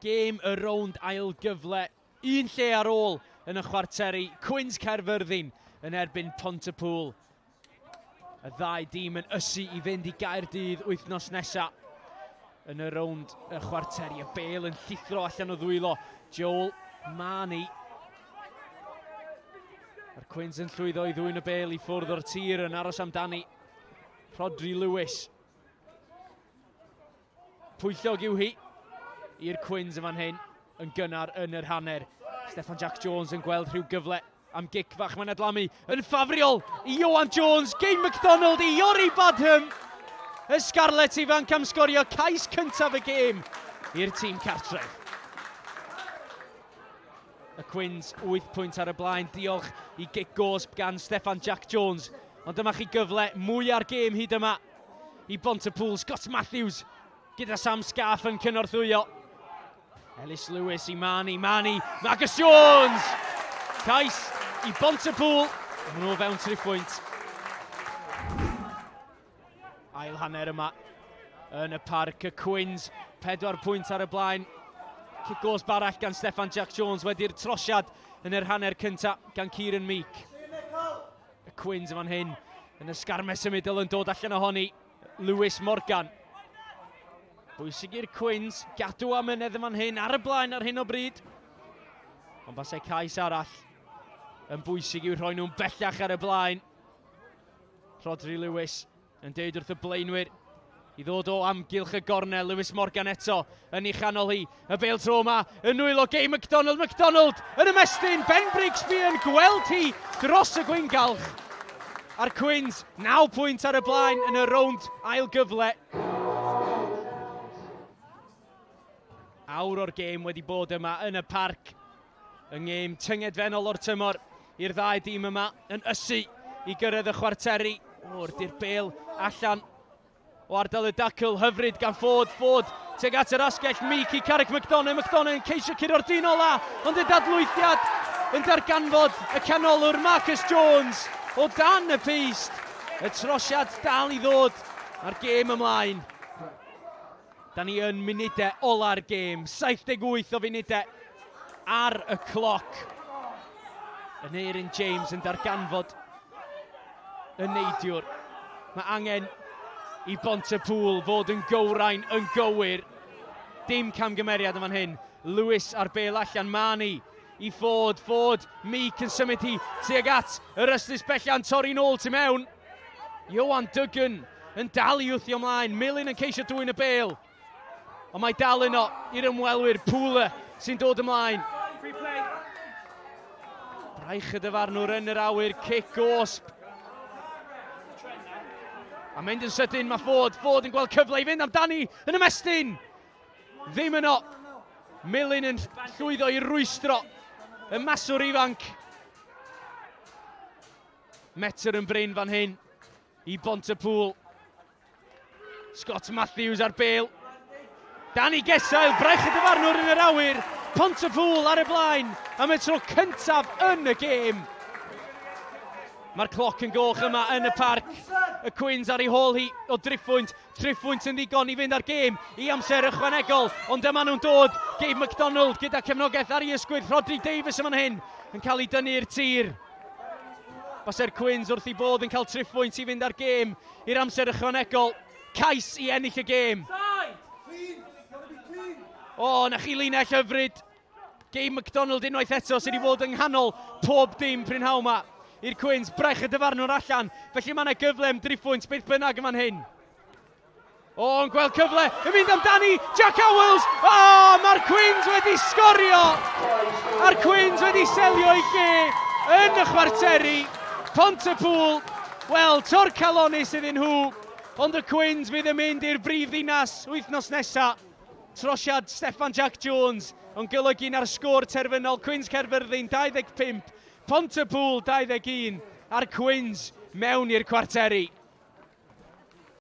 Gêm y rownd ail gyfle un lle ar ôl yn y chwarteri, Cwins Caerfyrddin yn erbyn Pontypŵl. Y ddau dîm yn ysu i fynd i Gaerdydd wythnos nesaf yn y rownd y chwarteri. Y bel yn llithro allan o ddwylo. Joel Mani. Mae'r Cwins yn llwyddo i ddwy'n y bel i ffwrdd o'r tir yn aros amdani. Rodri Lewis. Pwyllog yw hi i'r Cwins yn fan hyn yn gynnar yn yr hanner. Steffan Jack Jones yn gweld rhyw gyfle am gic fach mae'n adlamu yn ffafriol i Ioan Jones, Game McDonald i Iori Badham. Y Scarlets ifanc am sgorio cais cyntaf y gêm i'r tîm cartref. Y Cwins 8 pwynt ar y blaen, diolch i gic gosb gan Steffan Jack Jones. Ond dyma chi gyfle mwy ar gêm hyd yma. i bont y pŵl. Scott Matthews gyda Sam Scarf yn cynorthwyo. Ellis Lewis i Mani, Mani, Marcus Jones! Cais i bont y pŵl, maen nhw fewn tri phwynt. Ail hanner yma yn y parc y Cwins, pedwar pwynt ar y blaen. Cic gos barach gan Stefan Jack Jones wedi'r trosiad yn yr hanner cyntaf gan Kieran Meek. Y Cwins yn fan hyn, yn y sgarmes symudol yn dod allan ohoni, Lewis Morgan. Bwysig i'r Cwins, gadw am ynedd yn fan hyn, ar y blaen ar hyn o bryd. Ond basau cais arall yn bwysig i'w rhoi nhw'n bellach ar y blaen. Rodri Lewis Yn deud wrth y blaenwyr i ddod o amgylch y gornel. Lewis Morgan eto yn ei chanol hi. Y bel tro yma yn nwylo Gay McDonald. McDonald yn ymestyn. Ben Brigsby yn gweld hi dros y gwyngalch. A'r Cwins 9 pwynt ar y blaen yn y rownd ail gyfle. Awr o'r gêm wedi bod yma yn y parc. Y ngêm tyngedfennol o'r tymor i'r ddau dîm yma yn ysu i gyrraedd y chwarteri. O'r di'r bel allan o ardal y dacl hyfryd gan ffod ffod teg at yr asgell mic i Carrick McDonough. McDonough yn ceisio curo'r dyn ola, ond y dadlwythiad yn darganfod y canolwr Marcus Jones o dan y peist. Y trosiad dal i ddod a'r gêm ymlaen. Da ni yn munudau ola'r gêm, 78 o funudau ar y cloc. Aneurin James yn darganfod y neidiwr. Mae angen i Bont y Pŵl fod yn gywrain yn gywir. Dim camgymeriad yn fan hyn. Lewis ar bel allan, Mani i Ford, Ford, Meek yn symud hi tuag at yr ystus bellan, torri'n ôl tu mewn. Ioan Duggan yn dal i wthio ymlaen, Milyn yn ceisio dwy'n y bel. Ond mae dal yno i'r ymwelwyr, Pwle sy'n dod ymlaen. Braich y dyfarnwr yn yr awyr, cic gosb. A mynd yn sydyn, mae Ford, Ford yn gweld cyfle i fynd amdani yn ymestyn. Ddim yno. Milyn yn llwyddo i rwystro y maswr ifanc. metr yn brin fan hyn i Bont y Pŵl. Scott Matthews ar bel. Danny Gesail, braich y dyfarnwr yn yr awyr. Pont y Pŵl ar y blaen am y tro cyntaf yn y gêm. Mae'r cloc yn goch yma yn y parc. Y Cwins ar ei hôl hi o driphwynt. Triphwynt yn ddigon i fynd ar gêm i amser ychwanegol. Ond dyma nhw'n dod. Gabe McDonald gyda cefnogaeth ar ei ysgwydd. Rodri Davies yma'n hyn yn cael ei dynnu i'r tir. Base'r Cwins wrth i bodd yn cael triphwynt i fynd â'r gêm i'r amser ychwanegol. Cais i ennill y gêm. O, oh, na chi linell hyfryd. Gei McDonald unwaith eto sydd wedi bod yng nghanol pob dim prynhawn yma i'r Cwins. Brech y dyfarnwr allan, felly mae yna gyfle am driphwynt beth bynnag yn fan hyn. O, yn gweld cyfle, yn mynd amdani, Jack Owells! O, oh, mae'r Quins wedi sgorio! A'r Quins wedi selio i ge yn y chwarteri. Pont y Pŵl, wel, tor calonus iddyn nhw, ond y Quins fydd yn mynd i'r brif ddinas wythnos nesaf. Trosiad Steffan Jack Jones yn golygu na'r sgôr terfynol Cwins Caerfyrddin 25, Pont y Pŵl 21 a'r Cwins mewn i'r cwarteri.